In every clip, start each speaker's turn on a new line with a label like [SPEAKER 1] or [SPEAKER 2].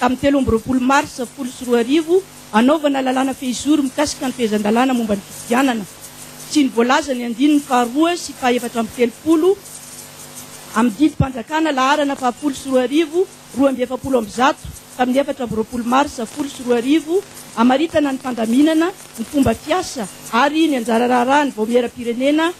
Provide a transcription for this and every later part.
[SPEAKER 1] tamin'ny telo amby roapolo marsa folo sy roa arivo hanaovana lalàna fehizoro mikasika ny fehezan-dalàna momba ny fifidianana sy ny voalaza ny andininy faharoa sy fahefatra amby telopolo amin'ny didim-panjakana laharana fahafolo sy roa arivo roa amby efapolo amby zato tamin'ny efatra amby roapolo marsa folo sy roa arivo hamaritana ny fandaminana ny fomba fiasa ary ny anjara raharaha ny vaomieram-pirenena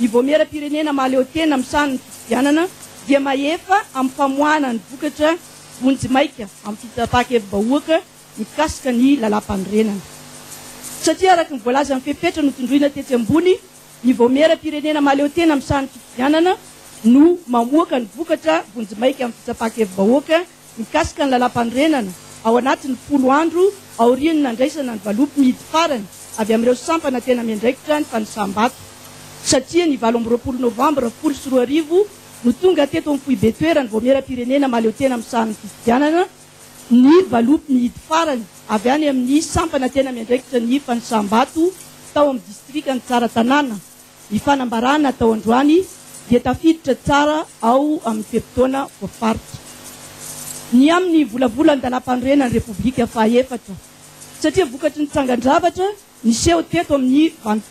[SPEAKER 1] Ny Vaomieram-pirenena mahaleotena amin'ny sahan'ny fifidianana dia mahefa amin'ny famoahana ny vokatra vonjimaika amin'ny fitsapan-kevi-bahoaka mikasika ny Lalàmpanorenana. Satria araka ny voalazan'ny fepetra notondroina tetsy ambony, ny Vaomieram-pirenena mahaleotena amin'ny sahan'ny fifidianana no mamoaka ny vokatra vonjimaika amin'ny fitsapan-kevi-bahoaka mikasika ny Lalàmpanorenana ao anatin'ny folo andro aorian'ny nandraisana ny valopmidy farany avy amin'ireo sampana tena miandraikitra ny fanisam-bato satria ny valo amby roapolo novambra folo sy roa arivo no tonga teto amin'ny foibe toeran'ny Vaomieram-pirenena mahaleotena misaha ny fifidianana ny valopmidy farany avy any amin'ny sampana tena miandraikitra ny fanisam-bato tao amin'ny distrikan'i Tsaratanàna. Ny fanambarana atao androany dia tafiditra tsara ao amin'ny fe-potoana voafaritra. Ny amin'ny volavolan-dalàm-panorenan'ny Repoblika fahaefatra, satria vokatry ny tsangan-javatra niseho teto amin'ny van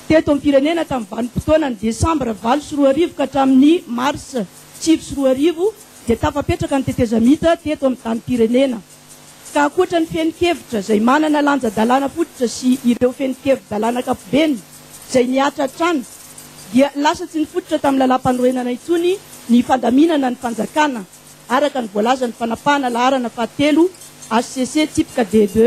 [SPEAKER 1] teto am-pirenena tamin'ny vanim-potoanan'ny desambra valo sy roa arivo ka hatramin'ny marsa sivy sy roa arivo dia tafapetraka ny tetezamita teto amin'ny tanim-pirenena. ka ankoatra ny fehin-kevitra izay manana lanja-dalàna fototra sy ireo fehin-kevi-dalàna ankapobeny izay mihatra hatrany dia lasa tsy nifototra tamin'ny lalàmpanorenana intsony ny fandaminana ny fanjakana araka ny voalazan'ny fanapahana laharana fahatelo HCC tsipika DD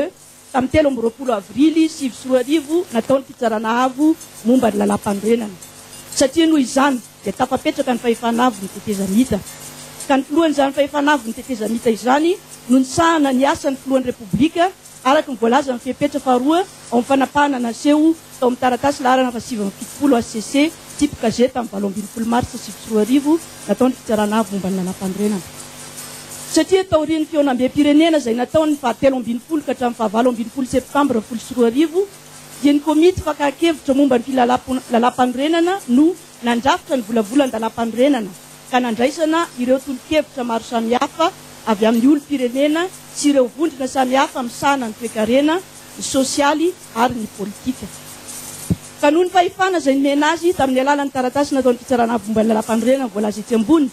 [SPEAKER 1] Tamin'ny telo amby roapolo avrily sivy sy roa arivo, natao ny Fitsarana Avo momba ny Lalàmpanorenana, satria noho izany dia tafapetraka ny fahefana avon'ny tetezamita, ka ny filohan'izany fahefana avon'ny tetezamita izany no nisahana ny asan'ny Filohan'ny Repoblika, araka ny voalazan'ny fepetra faharoa ao amin'ny fanapahana naseho Tao amin'ny taratasy laharana fahasivy amby fitopolo HCC, Type KG, tamin'ny valo ambin'ny folo martsa sivy sy roa arivo, nataon'ny Fitsarana Avo momba ny Lalàmpanorenana. Satria taorian'ny fihaonambem-pirenena izay natao ny faha telo ambin'ny folo ka hatramin'ny faha valo ambin'ny folo septambra folo sy roa arivo, dia ny Komity Fakan-kevitra momba ny Lalàmpanorenana no nandrafitra ny volavolan-dalàmpanorenana ka nandraisana ireo tolo-kevitra maro samihafa avy amin'ny olom-pirenena sy ireo vondrona samihafa misahana ny toekarena, ny sosialy, ary ny politika. Ka noho ny fahefana izay nomena azy tamin'ny alalan'ny taratasy nataon'ny Fitsarana Avo momba ny Lalàmpanorenana voalaza etsy ambony,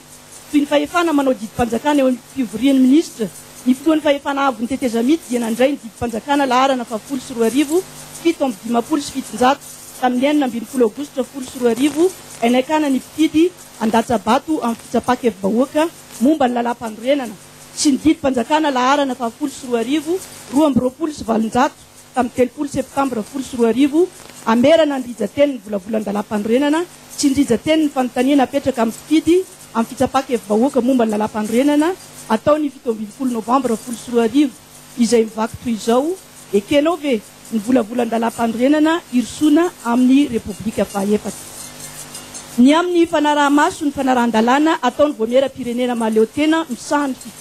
[SPEAKER 1] toy ny fahefana manao didim-panjakana eo amin'ny fivorian'ny minisitra, ny Filohan'ny Fahefana Avon'ny Tetezamita dia nandray ny didim-panjakana laharana fahafolo sy roa arivo, fito amby dimampolo sy fitonjato, tamin'ny enina ambin'ny folo aogositra folo sy roa arivo, ain'aikana ny mpifidy handatsa-bato amin'ny fitsapa-kevi-bahoaka momba ny Lalàmpanorenana sy ny didim-panjakana laharana fahafolo sy roa arivo, roa amby roapolo sy valonjato. tamin'ny telopolo septambra folo sy roa arivo, hamerana ny rijan-teny ny volavolan-dalàmpanorenana sy ny rijan-teny ny fanontaniana apetraka amin'ny mpifidy amin'ny fitsapan-kevi-bahoaka momba ny lalàmpanorenana atao ny fito ambin'ny folo novambra folo sy roa arivo izay mivaky toy izao, Ekenao ve ny volavolan-dalàmpanorenana hirosoana amin'ny Repoblika fahaefatra? Ny amin'ny fanaraha-maso ny fanarahan-dalàna ataon'ny Vaomieram-pirenena mahaleotena misahana ny.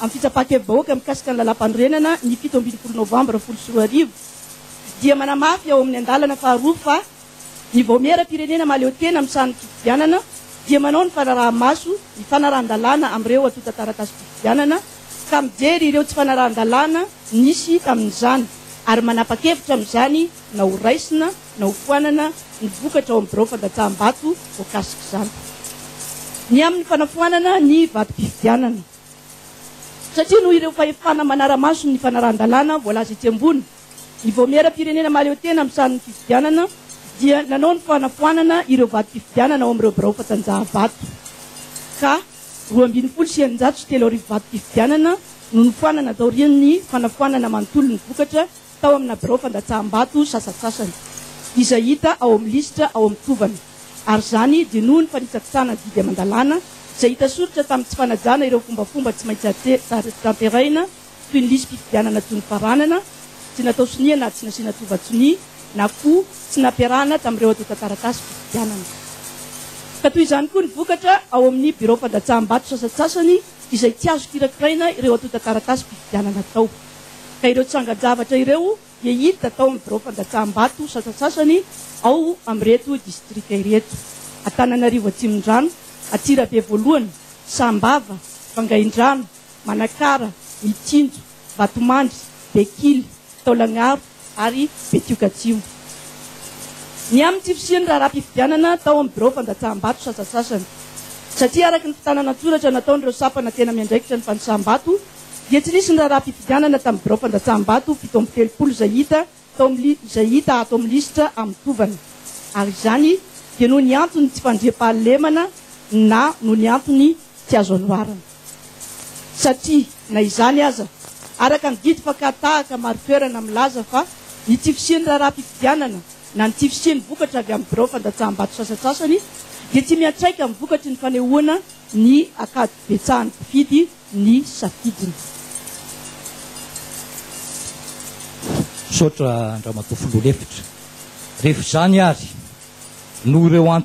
[SPEAKER 1] amin'ny fitsapan-kevi-bahoaka mikasika ny Lalàmpanorenana ny fito ambin'ny folo novambra folo sy roa arivo dia manamafy ao amin'ny andalana faharoa fa ny vaomieram-pirenena mahaleo tena amin'ny sahan'ny fifidianana dia manao ny fanaraha-maso ny fanarahan-dalàna amin'ireo antontan-taratasim-pifidianana ka mijery ireo tsy fanarahan-dalàna nisy tamin'izany ary manapa-kevitra amin'izany na ho raisina na ho foanana ny vokatra ao amin'ny birao fandatsaham-bato voakasik'izany ny amin'ny fanafoanana ny vatom-pifidianana satria noho ireo fahefana manara-maso ny fanarahan-dalàna voalaza etsy ambony, ny Vaomieram-pirenena mahaleo tena amin'ny sarin'ny fifidianana dia nanao ny fanafoanana ireo vatom-pifidianana ao amin'ireo birao fandanjahavato ka roa ambin'ny folo sy eninjato sy telo arivo vatom-pifidianana no nofoanana taorian'ny fanafoanana manontolo ny vokatra tao amina birao fandatsaham-bato sasantsasany, izay hita ao amin'ny lisitra ao amin'ny tovana, ary izany dia noho ny fanitsakitsahana ny didy aman-dalàna izay hita soritra tamin'ny tsy fanajana ireo fombafomba tsy maintsy tanterahina toy ny lisi-pifidianana tsy nofaranana, tsy natao sonia na tsy nasiana tova-tsonia, na koa tsy nampiarahana tamin'ireo atontan-taratasy fifidianana. Ka toy izany koa ny vokatra ao amin'ny birao fandatsaham-bato sasantsasany, izay tsy azo kirakiraina ireo antontan-taratasim-pifidianana atao, ka ireo tsangan-javatra ireo dia hita tao amin'ny biraom-pandatsaham-bato sasantsasany ao amin'ireto distrika ireto, Antananarivo Atsimondrano, Antsirabe Voalohany, Sambava, Vangaindrano, Manakara, Mitsinjo, Vatomandry, Bekily, Taolagnaro ary Betioka Atsimo. Ny amin'ny tsy fisian'ny raharaham-pifidianana tao amin'ny birao fandatsaham-bato sasasasany. Satria araka ny fitànana an-tsoratra nataon'ireo sampana tena miandraikitra ny fandosaham-bato dia tsy nisy ny raharaham-pifidianana tamin'ny birao fandatsaham-bato fito amby telopolo izay hita tao izay hita ato amin'ny lisitra amin'ny tovana ary izany dia noho ny antony tsy fandriampahalemana na noho ny antony tsy azo anoharana. satria na izany aza, araka ny didy mpankahataaka maro toerana milaza fa ny tsy fisian'ny raharaham-pifidianana na ny tsy fisian'ny vokatra avy amin'ny birao fandatsaham-bato sasantsasany dia tsy miantraika amin'ny vokatry ny fanehoana ny ankadibetsahan'ny mpifidy ny safidiny.
[SPEAKER 2] Misaotra an-dramatoa filoha lefitra. Rehefa izany ary, noho ireo antony.